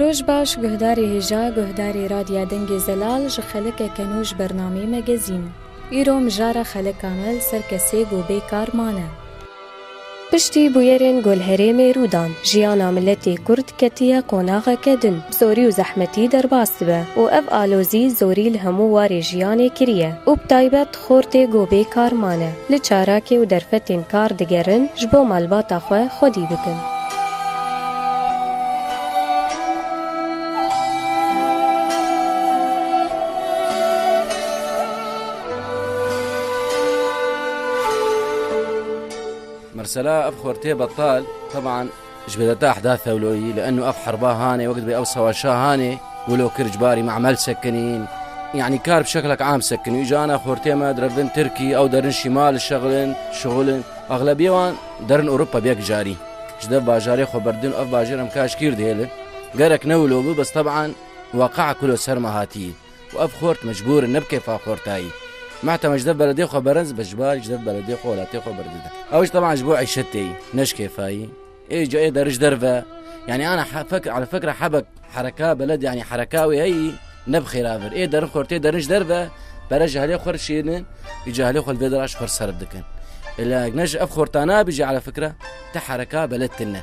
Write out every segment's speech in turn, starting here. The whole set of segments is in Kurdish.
Roj baş guhdarê hêja guhdarê Radya Dengê Zelal ji xelekeke nû ji bernameyê me gezîn. Îro mijara xeleka me li ser kesê ku bê kar mane. Piştî bûyerên ku li herêmê rû dan, jiyana miletê kurd ketiye qonaxeke din, bi zorî û zehmetî derbas dibe û ev alozî zorî li hemû warê jiyanê kiriye û bi taybet, Xortê ku bê kar mane, li çarakê û derfetên kar digerin ji bo malbata xwe xwedî bikin. Mirsela, ev xortê betal, teban. Ji bê detax da Thewloyî li eno ev herba hanê wek dibê ew sewaşa hanê wilo kir ji barî memel sekinîn yanî kar bi şeklek am sekinî û ji ana xortê me direvdin Tirkî ew derin şîma li şexilin şixulin exlebiyê wan derin Ewropa bi yek carî ji dev bajarê xwe berdin ev bajêr em kaşkîr dihêlin gerek ne wilo bû bes teban weqeya ku li ser me hatiyî. û ev xort mecbûr in nebike fa xortayî. Meh tema ji dev beredê xwe berenz be ji bar ji dev beredê xwe welatê xwe berdide. Ew jî teban ji bo îşetê yî ne ji kêfayî. Ê ca ê der ji derve yanî ana fek ala fekra hebek hereka beled yanî hereka wê heyî ne bi xêra vir. Ê derin xortê derin ji derve pere ji helê xwe dişînin ê ca helê xwe li vê dera ji xwe serf dikin. Ê lek ne ji ev xorta nabî jî ala fikra te hereka beled tune.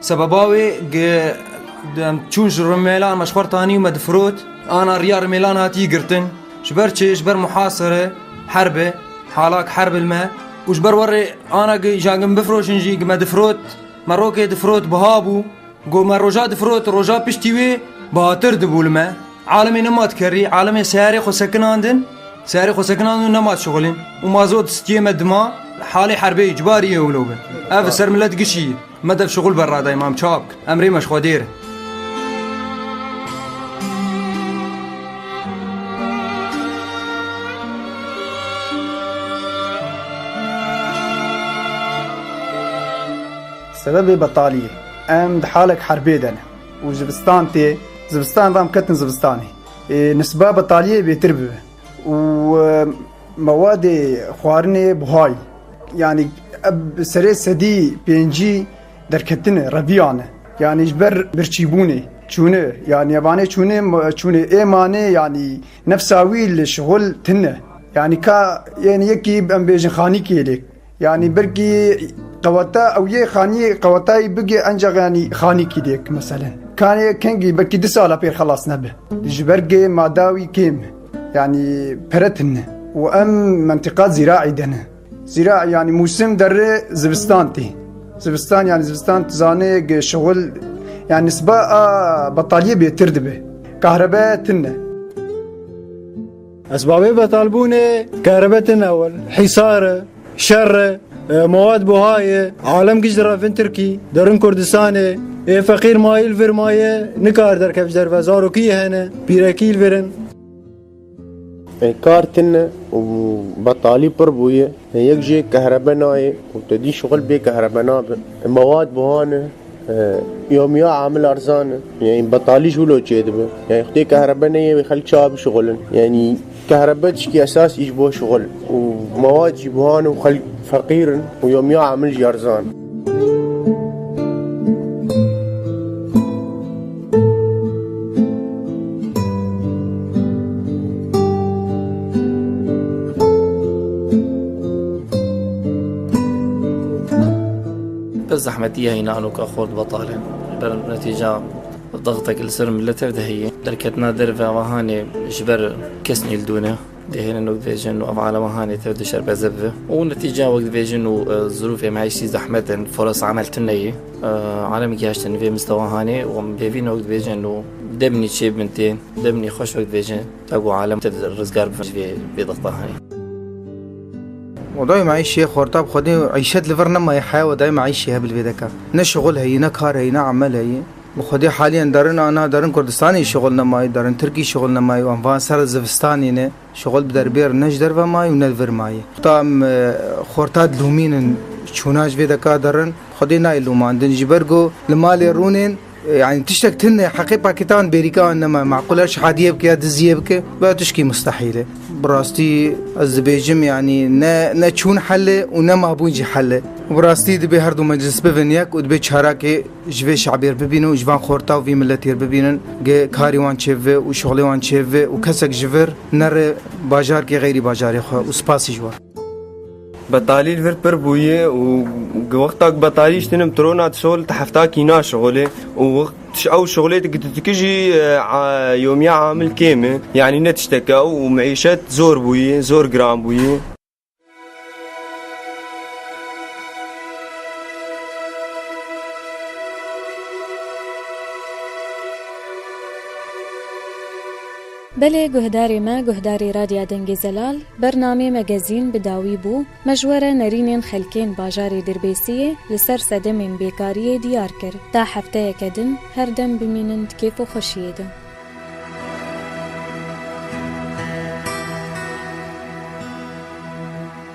Sebeba wê gi em çûn ji rimelan me ji xwar tanî û me difirot. Ana riya rimelan hatî girtin. Ji ber çi? Ji ber muhasere, herbe, halak herb li me û ji ber werê ana gi ja gi min bifirojin jî gi me difirot. Me rokê difirot biha bû. Ku me roja difirot roja piştî wê bihatir dibû li me. Alimê nema dikerî, alimê seyarê xwe sekinandin, seyarê xwe sekinandin û nema dişixulîn. Û mazot stiyê me dima halê herbê yî, ciwarî yê wilo be. Ev li ser milet gişî yî. Meded şuxul be radayê mam çap kir em rê me ji xwe dêr e. Sebebê betaliyê em di halek herbê de ne û zivistan tê zivistan re em ketin zivistanê ê nisba betaliyê bêtir bibe. û mewadê xwarinê buhayî yanî ev serê sedî pêncî derketinê reviyane yanî ji ber birçîbûnê çûne yanî evanê çûne çûnê ê manê yanî nefsa wî li şixul tune yanî ka yê yekî em bêjin xanîkê lê Yani birkî qeweta ew yê xanî qewetayî bigê enca yanî xanî kî dêk meselen. Kanê kengî birkî di sala pêr xelas nebe. Ji ber gê madawî kêm yanî peretin ne û em mentiqa zîraî de ne. Zîra yanî mûsim derê zivistan tê. Zivistan yanî zivistan zanê şewil yani nisba a betaliyê bêtir dibe. Kahrebe tine. Esbabê betalbûnê kerebetên ewil, hîsar e, şer e, mewad buha ye, alem giş direvin Tirkî, derin Kurdistanê, ê feqîr mayîl vir maye nikar derkevj derve zarokî hene, pîrekîl virin. Ê kar tin e û betalî pir bûye. Ê yek jê kehrebe nayê û tu dî şixul bê kehrebe nabe. Ê mewad buha ne. Yomiya Amil Arzan, Yanî betalî ji wilo çêdibe? Yanî xwedê kehrebe neyê wê xelk çawa bişixulin? Yanî kehrebe tiştî esas î ji bo şixul û mewad jî buhan û xelk feqîr in û yomiya amil jî erzan. Bi zehmetî ya hîna anoka xort betal e. Ji ber netîca dextek li ser milet tev de heye. Derketina derve ava hanê ji ber kes nêldûn e. Dihêlin û dibêjin ava alema hanê tev dişerbeze bibe. Û netîca wek dibêjin û zirûfê meîştî zehmet in, forasa emel tune ye. Alemê gihiştin li vê mistewa hanê û em pêvîn wek dibêjin û demnî çêbibin tê. Demnî xweş wek dibêjin ta ku alem tev rizgar bibin ji vê bêdexta hanê. و dayê me îşê xorta bi xwedê îşet li vir nemaye heya we dayê me îşê heye bi li vê de ka ne şixul heye ne kar heye ne emel heye bi xwedê haliyen derin a na derin kurdistanê şixul nemaye derin tirkî şixul nemaye wan van ser zivistanê ne şixul bi derbêr ne ji derve maye û ne li vir maye xwta em xorta dilûmînin çûna ji vê de ka derin xwedê nayê lûmandin ji ber ku li malê rûnên Yani tiştek tinde heqê pakitan bêrîka an nema mequle şehadiyê bike ya diziyê bike ve tişkî mustehîl e. Bi rastî ez dibêjim yanî ne ne çûn hel e û ne mabûn jî hel e. Bi rastî dibê her du meclis bibin yek û dibê çarakê ji vê şabê re bibînin û ji van xorta û vî miletê re bibînin ge karî wan çêbive û şixulê wan çêbive û kesek ji vir nere bajarkê xeyrî bajarê xwe û spasî ji wan. Betalî vir pir bûye û wexta ku betalî ji tinim trona tu şixul ti hefta kî naşixulê û ew şixulê tu dikî jî yomiya amil kêm e yanî ne tiştek e û mîşet zor bûye zor giran bûye. Belê guhdarê me guhdarê Radya Dengê Zelal, bernamê me gezîn bi dawî bû, me ji we re nerînên xelkên bajarê Dirbêsiyê li ser sedemên bêkariyê diyar kir, ta hefteyeke din her dem bimînin di kêf û xweşiyê de.